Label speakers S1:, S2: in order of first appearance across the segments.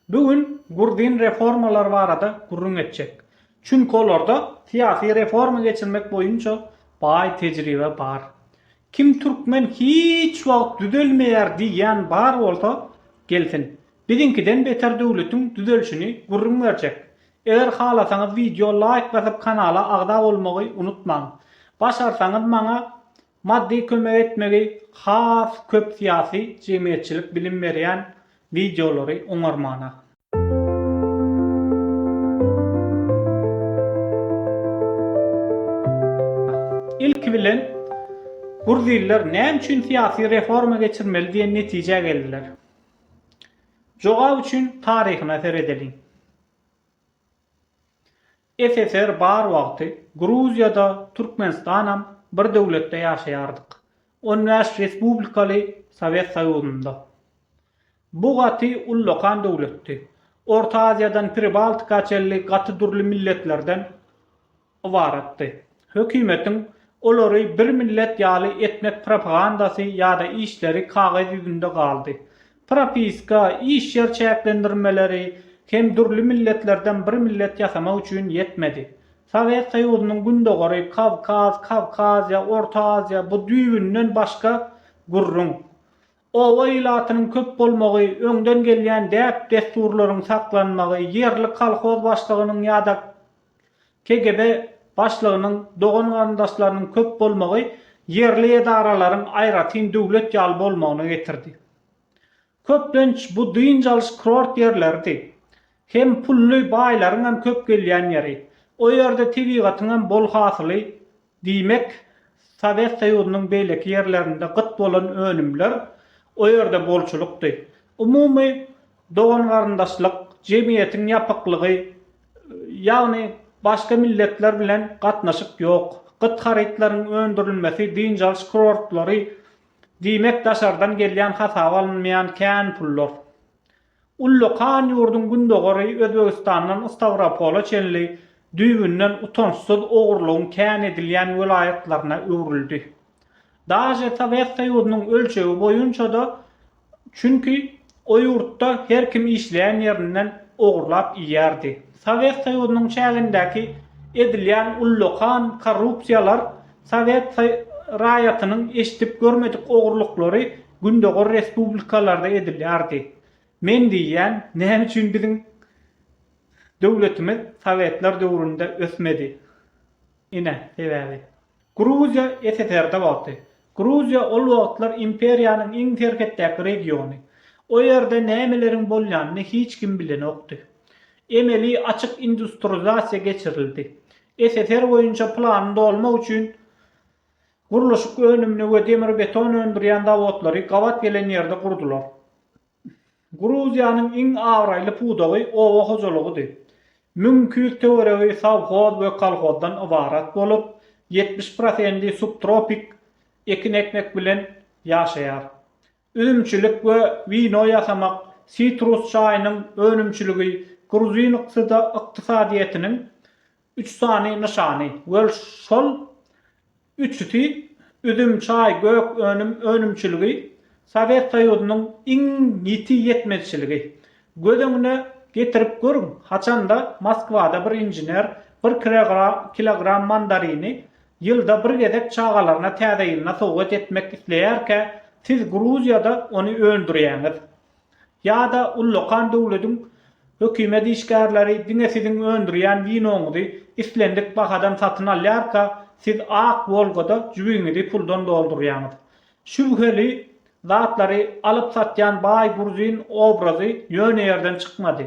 S1: Bu gün Gurdin reformalar barada gürrüň etjek. Çünki olarda syýasy reforma geçirmek boýunça baý tejribe bar. Kim türkmen hiç wagt düzelmeýär diýýän bar bolsa, gelsin. Biziňkiden beter döwletiň düzelşini gürrüň berjek. Eger halasaňyz wideo laýk basyp kanala agza bolmagy unutmaň. Başarsaňyz maňa Maddy kömek etmegi has köp syýasy jemgyýetçilik bilim berýän wideolary oňarmana. Ilki bilen Gruziller näme üçin syýasy reforma geçirmeli diýen netijä geldiler? Jogap üçin taryhyna seredeliň. SSR bar wagty Gruziýada, Türkmenistanam bir döwletde ýaşaýardyk. On bäş respublikaly Sowet Soýuzynda. Bu gaty ullakan döwletdi. Orta Aziýadan Pribaltika çenli gaty dürli milletlerden ybaratdy. Hökümetiň olary bir millet ýaly etmek propagandasy ýa-da işleri kagyz ýüzünde galdy. propiska, iş ýer çäklendirmeleri hem dürli milletlerden bir millet ýasamak üçin ýetmedi. Sowet Soýuzynyň gündogary, Kawkaz, Kawkaziýa, Orta Aziýa bu düýbünden başga gürrüň. Oba ilatynyň köp bolmagy, öňden gelýän däp-dessurlaryň saklanmagy, ýerli kolhoz başlygynyň ýa-da KGB başlygynyň dogan-garyndaşlarynyň köp bolmagy ýerli edaralaryň aýratyn döwlet ýaly bolmagyna getirdi. Köplenç bu dynç alyş kurort ýerleridi. Hem pully baýlaryňam köp gelýän ýeri. O ýerde tebigatyňam bol hasyly Diýmek, Sowet Soýuzynyň beýleki ýerlerinde gyt bolan önümler o ýerde bolçulykdy. Umumy dogan-garyndaşlyk, jemgyýetiň ýapyklygy, ýagny başga milletler bilen gatnaşyk ýok. Gyt harytlaryň öndürilmesi, dynç alyş kurortlary, diýmek, daşardan gelýän hasaba alynmaýan kän pullar. Ullakan ýurduň gündogary Özbegistandan Stawropola çenli düýbünden utançsyz ogurlygyň kän edilýän welaýatlaryna öwrüldi. Daže Sowet Soýuzynyň ölçegi boýunça-da, çünki o ýurtda her kim işleýän ýerinden ogurlap iýýärdi. Sowet Soýuzynyň çägindäki edilýän ullakan korrupsiýalar sowet raýatynyň eşidip görmedik ogurlyklary Gündogar respublikalarda edilýärdi. Men diýýän, näme üçin biziň döwletimiz sowetler döwründe ösmedi? Ine, sebäbi. Gruziýa SSR-de wagty. Gruziýa ol wagtlar imperiýanyň iň serhetdäki regiony. O ýerde nämeleriň bolýanyny hiç kim bilenokdy. Emeli açyk industrializasiýa geçirildi. SSR boýunça plany dolmak üçin Gurluşyk önümini we demir-beton öndürýän zawodlary gabat gelen ýerde gurdular. Gruziýanyň iň abraýly pudagy oba hojalygydy. Müň iki ýüz töweregi sowhoz we kolhozdan ybarat bolup, ýetmiş prosendi subtropik ekin ekmek bilen ýaşaýar. Üzümçilik we wino ýasamak, sitrus çaýynyň önümçiligi gruzin ykdysadyýetiniň üç sany nyşany we şol üçüsi, üzüm, çaý, gök önüm önümçiligi, Sowet Soýuzynyň iň ýiti ýetmezçiligi. Göz öňüne getirip görüň, haçanda Moskwada bir inžener bir kilogram mandarini Ýylda bir gezek çagalaryna Täze ýylyna sowgat etmek isleýärkä, siz Gruziýada ony öndürýäňiz. Ýa-da ullakan döwlediň hökümet işgärleri diňe siziň öndürýän winoňyzy islendik bahadan satyn alýarka, siz ak Wolgada jübiňizi puldan doldurýaňyz. Şübheli zatlary alyp-satýan baý gruzin obrazy ýöne ýerden çykmady.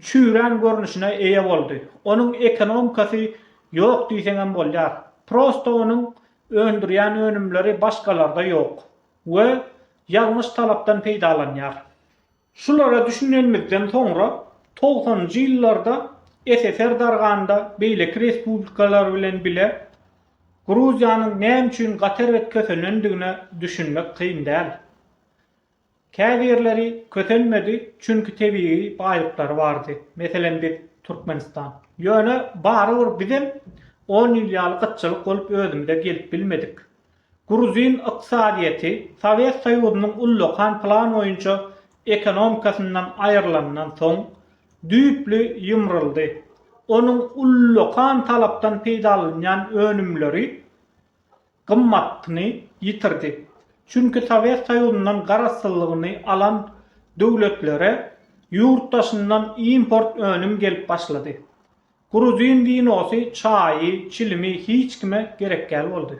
S1: çüýrän görnüşine eýe boldy. Onuň ekonomikasy ýok diýseňem bolýar. Prosto onuň öndürýän önümleri başgalarda ýok we ýalňyş talapdan peýdalanýar. Şulara düşünenimizden soňra togsanynjy ýyllarda SSR darganda beýleki respublikalar bilen bile Gruziýanyň näme üçin gaty erbet kösenendigine düşünmek kyn däl. Käbirleri kösenmedi, çünki tebigy baýlyklary bardy, meselem biz, Türkmenistan. Ýöne barybir bizem on ýyl ýaly gytçylyk bolup özümize gelip bilmedik. Gruzin ykdysadyýeti Sowet Soýuzynyň ullakan plan boýunça ekonomikasyndan aýrylandan soň, düýpli ýymryldy. Onuň ullakan talapdan peýdalanýan önümleri gymmatyny ýitirdi. Çünki Sowet Soýuzyndan garaşsyzlygyny alan döwletlere ýurt daşyndan import önüm gelip başlady. Gruzin winosy, çaýy, çilimi hiç kime gerekgäl boldy.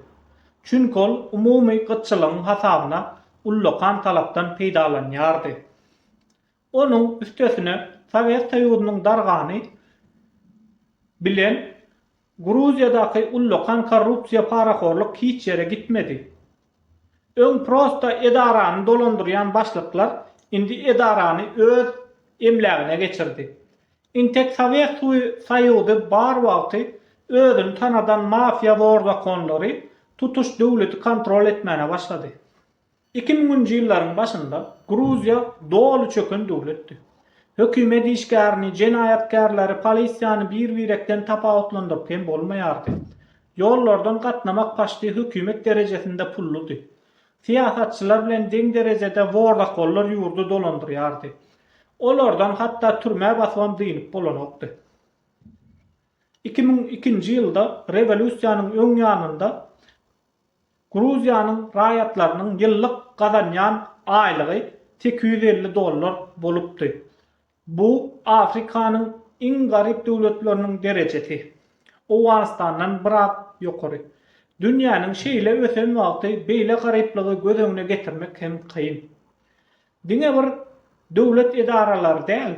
S1: Çünki ol umumy gytçylygyň hasabyna ullakan talapdan peýdalanýardy. Onuň üstesine Sowet Soýuzynyň dargany bilen Gruziýadaky ullakan korrupsiýa parahorlyk hiç ýere gitmedi. Öň prosta edarany dolandyrýan başlyklar indi edarany öz emlägine geçirdi. Intek Sowet Soýuzy bar wagty özüni tanadan mafiýa zorzakonlary tutuş döwleti kontrol etmäne başlady. Iki müňünji ýyllaryň başynda Gruziýa doly çöken döwletdi. Hökümet işgärini, jenaýatkärleri, polisiýany bir-birekden tapawutlandyryp hem bolmaýardy. Ýollardan gatnamak paçti hökümet derejesinde pulludy. Syýasatçylar bilen deň derejede wordakollar ýurdy dolandyrýardy. Olardan hatda türmä basybam dynyp bolanokdy. Iki müň ikinji ýylda rewolýusiýanyň öň ýanynda Gruziýanyň raýatlarynyň ýyllyk gazanýan aýlygy sekiz ýüz elli dollar bolupdy. Bu Afrikanyň iň garyp döwletleriniň derejesi. Owganystandan biraz ýokary. Dünýäniň şeýle ösen wagty beýle garyplygy göz öňüne getirmek hem kyn. Diňe bir döwlet edaralary däl,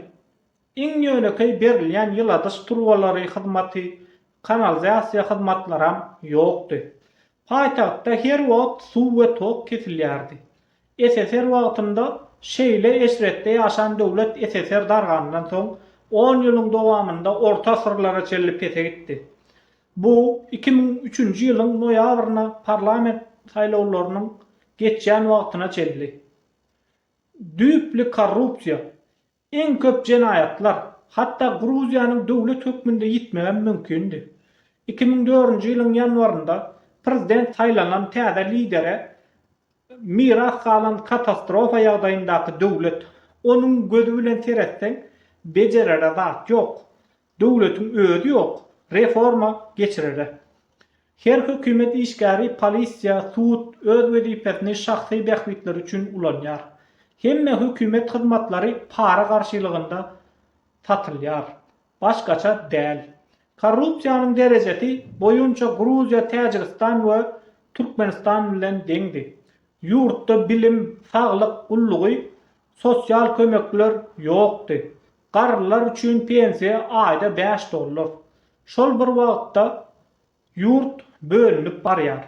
S1: Iň ýönekeý berilýän ýyladyş turbalary hyzmaty, kanalizasiýa hyzmatlaram ýokdy. Paýtagtda her wagt suw we tok kesilýärdi. SSR wagtynda şeýle eşretde ýaşan döwlet SSR dargandan soň on ýylyň dowamynda orta asyrlara çenli pese gitdi. Bu iki müň üçünji ýylyň noýabryna parlament saýlawlarynyň geçýän wagtyna çenli düýpli korrupsiýa, Iň köp jenaýatlar, hatda Gruziýanyň döwlet hökmünde ýitmegem mümkindi. Iki müň dördünji ýylyň ýanwarynda prezident saýlanan täze lidere miras galan katastrofa ýagdaýyndaky döwlet. Onuň gözi bilen seretseň, bejerere zat ýok. Döwletiň özi ýok, reforma geçirere. Her hökümet işgäri polisiýa, sud, öz wezipesini şahsy bähbitleri üçin ulanýar. Hemme hökümet hyzmatlary para garşylygynda satylýar. Başgaça däl. Korrupsiýanyň derejesi boýunça Gruziýa Täjigistan we Türkmenistan bilen deňdi. Ýurtda bilim, saglyk gullugy, sosial kömekler ýokdy. Garrylar üçin pensiýa aýda bäş dollar. Şol bir wagtda ýurt bölünip barýar.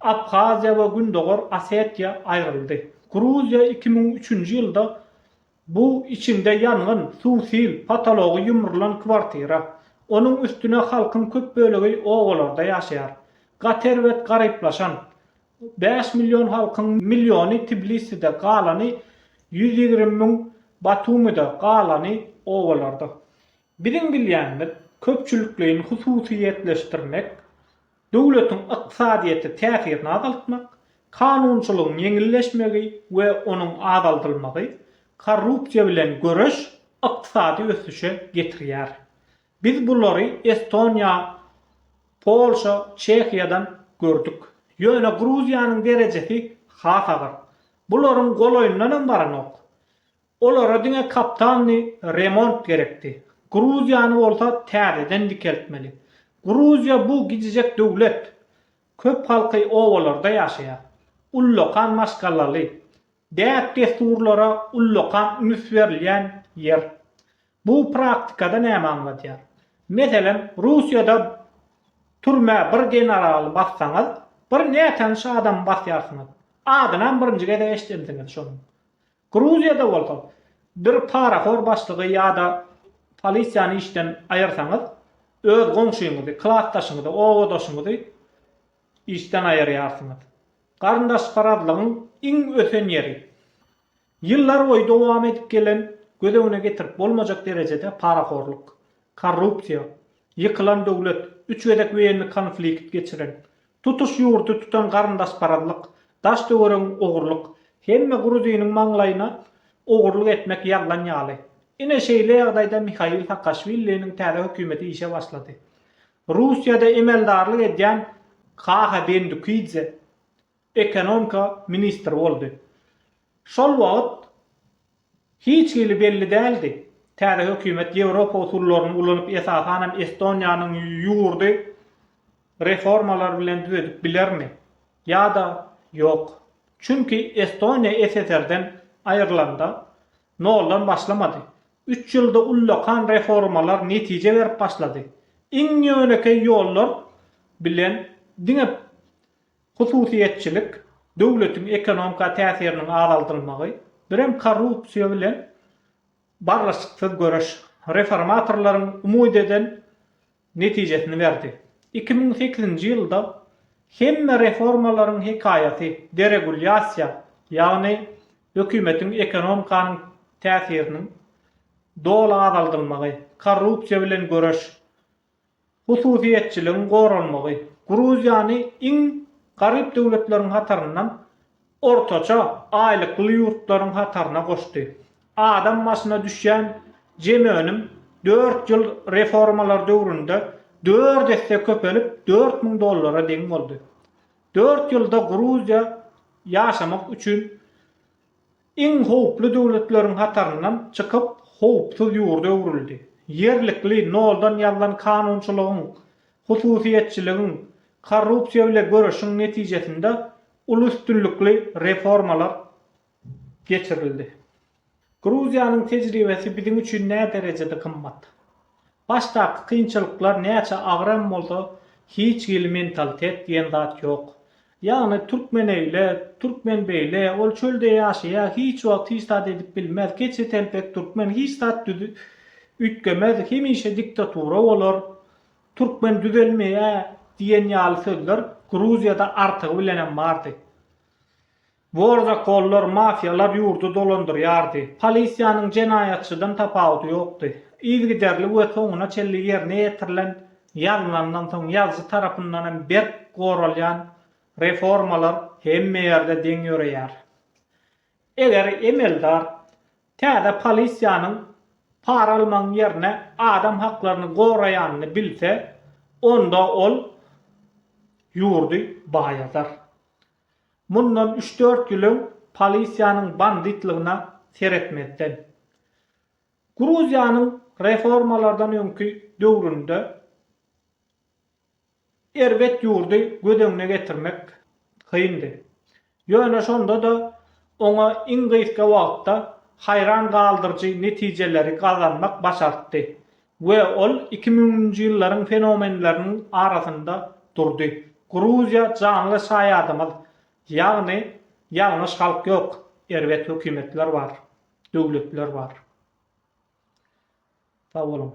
S1: Abhaziýa we Gündogar Osetiýa aýryldy. Gruziýa iki müň üçünji ýylda bu içinde ýangyn, suw, sil, potology ýumrulan kwartira. Onuň üstüne halkyň köp bölegi obalarda ýaşaýar. Gaty erbet garyplaşan. Bäş million halkyň milliony Tbiliside, galany ýüz ýigrimi müň Batumyda, galany obalarda. Biziň bilýänimiz, köpçülikleýin hususyýetleşdirmek, döwletiň ykdysadyýete täsirini azaltmak, kanunçylygyň ýeňilleşmegi we onuň azaldylmagy, korrupsiýa bilen göreş ykdysady ösüşe getirýär. Biz bulary Estoniýa, Polşa, Çehiýadan gördük. Ýöne Gruziýanyň derejesi has agyr. Bularyň golaýyndan hem baranok. Olara diňe kaptalny remont gerekdi. Gruziýany bolsa täzeden dikeltmeli. Gruziýa bu gijijek döwlet. Köp halky obalarda ýaşaýar. Ullakan maşgalaly. Däp-dessurlara ullakan üns berilýän ýer. Bu praktikada näme aňladýar? Meselem, Russiýada türmä bir generaly bassaňyz, bir nätanyş adamy basýarsyňyz. Adynam birinji gezek eşidensiňiz şonuň. Gruziýada bolsa, bir parahor başlygy ýa-da polisiýany işden aýyrsaňyz, öz goňşyňyzy, klasdaşyňyzy, obadaşyňyzy işden aýyrýarsyňyz. Garyndaşparazlygyň iň ösen ýeri. Ýyllarboýy dowam edip gelen göz öňüne getirip bolmajak derejede parahorluk, korrupsiýa, ýykylan döwlet, üç gezek weýenni konflikt geçiren, tutuş ýurdy tutan garyndaşparazlyk, daş-töweregiň ogurlyk, hemme gruziniň maňlaýyna ogurlyk etmek ýazlan ýaly. Ine şeýle ýagdaýda Mihail Saakaşwiliniň täze hökümeti işe başlady. Russiýada emeldarlyk edýän Kaha Bendukidze ekonomika ministri boldy. Şol wagt hiç hili belli däldi, täze hökümet ýewropa usullaryny ulanyp, esasanam Estoniýanyň ýurdy reformalar bilen düzedip bilermi ýa-da ýok. Çünki Estoniýa SSR-den aýrylanda, Noldan başlamady. Üç ýylda ullakan reformalar netije berip başlady. Iň ýönekeý ýollar bilen diňe hususyýetçilik, döwletiň ekonomika täsiriniň azaldylmagy, birem korrupsiýa bilen barlyşyksyz göreş, reformatorlaryň umyt eden netijesini berdi. Iki müň sekizinji ýylda hemme reformalaryň hekaýaty deregulýasiýa, ýagny hökümetiň ekonomikanyň täsiriniň doly azaldylmagy, korrupsiýa bilen göreş, hususyýetçiligiň goralmagy, Gruziýany iň garyp döwletleriň hataryndan ortaça aýlykly ýurtlaryň hataryna goşdy. Adam başyna düşýän jem önüm dört ýyl reformalar döwründe dört esse köpelip dört müň dollara deň boldy. Dört ýylda Gruziýa ýaşamak üçin iň howply döwletleriň hataryndan çykyp howpsuz ýurda öwrüldi. Ýerlikli, noldan ýazlan kanunçylygyň, hususyýetçiligiň, korrupsiýa bile göreşiň netijesinde uly üstünlikli reformalar geçirildi. Gruziýanyň tejribesi biziň üçin näderejede gymmat. Başdaky kynçylyklar näçe agyr hem bolsa, hiç hili mentalitet diýen zat ýok. Ýagny türkmen öýle, türkmen beýle, ol çölde ýaşaýar, hiç wagt hiç zat edip bilmez, keçetelpek türkmen hiç zat üýtgemez, hemişe diktatura bolar Türkmen düzelmeýä diýen ýaly sözler Gruziýada artygy bilenem bardy. Borzakollar, mafiýalar ýurdy dolandyrýardy. Polisiýanyň jenaýatçydan tapawudy ýokdy. Yzygiderli we soňuna çenli ýerine ýetirilen, ýazlandan soň ýazyjy tarapyndanam berk goralýan reformalar hemme ýerde deň ýöreýär. Eger emeldar täze polisiýanyň para almagyň ýerine adam haklaryny goraýanyny bilse, onda ol ýurdy baýadar. Mundan üç-dört ýyl öň polisiýanyň banditlygyna seretmezden. Gruziýanyň reformalardan öňki döwründe. Erbet ýurdy göz öňüne getirmek kyndy. Ýöne şonda-da oňa iň gysga wagtda haýran galdyryjy netijeleri gazanmak başartdy we ol iki müňünji ýyllaryň fenomenleriniň arasynda durdy. Gruziýa janly şaýadymyz, ýagny ýalňyş halk ýok, erbet hökümetler bar, döwletler bar. Sag boluň.